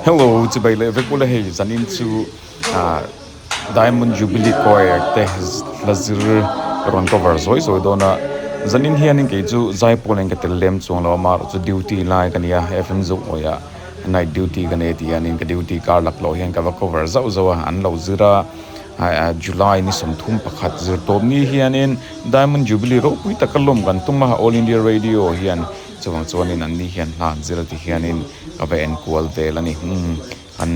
Hello, chibai leh vek ula hei zanin chu Diamond Jubilee Choir te la zir ka rawn cover zawi zawi dawn a, zanin hian in kei chu zai pawl in ka tel lem chuang lo a mar chu duty lai ka nia FM Zohkawih ah night duty ka nei ti hian in ka duty kar lak loh hian ka va cover zauh zauh a, an lo zir a July ni sawm thum pakhat zir tawp ni hian in Diamond Jubilee ropui taka lawm kan tum a All India Radio hian chuvang chuan in an ni hian hla an zir a ti hian in Ka va en kual vel a ni. Umm, an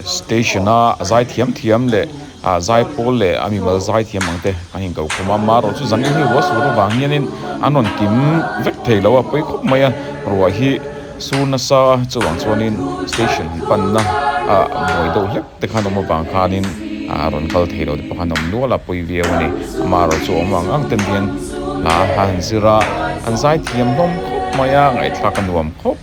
station a zai thiam thiam leh a zai pawl leh a mimal zai thiam ang te an inko khawm a, mah erawh chu zan hi rual sur avang hianin an rawn kim vek thei lo a, pawi khawp mai a, ruah hi sur nasa a, chuvang chuanin station han panna a buai deuh hlek te khan awm avang khanin a rawn kal thei loh te pawh khan a awm nual a, pawi viau a ni. Mah erawh chu a awm ang ang te nen hla a han zir a, an zai thiam hlawm khawp mai a, ngaihthlak a nuam khawp.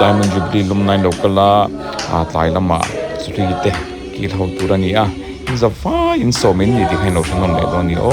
Diamond Jubilee lawmna in lo kal a, aa tlai lama Sri te kil ho tur a ni a, inzawp fai in sawm in ni tih kha in lo hre nawm leh dawn a ni aw.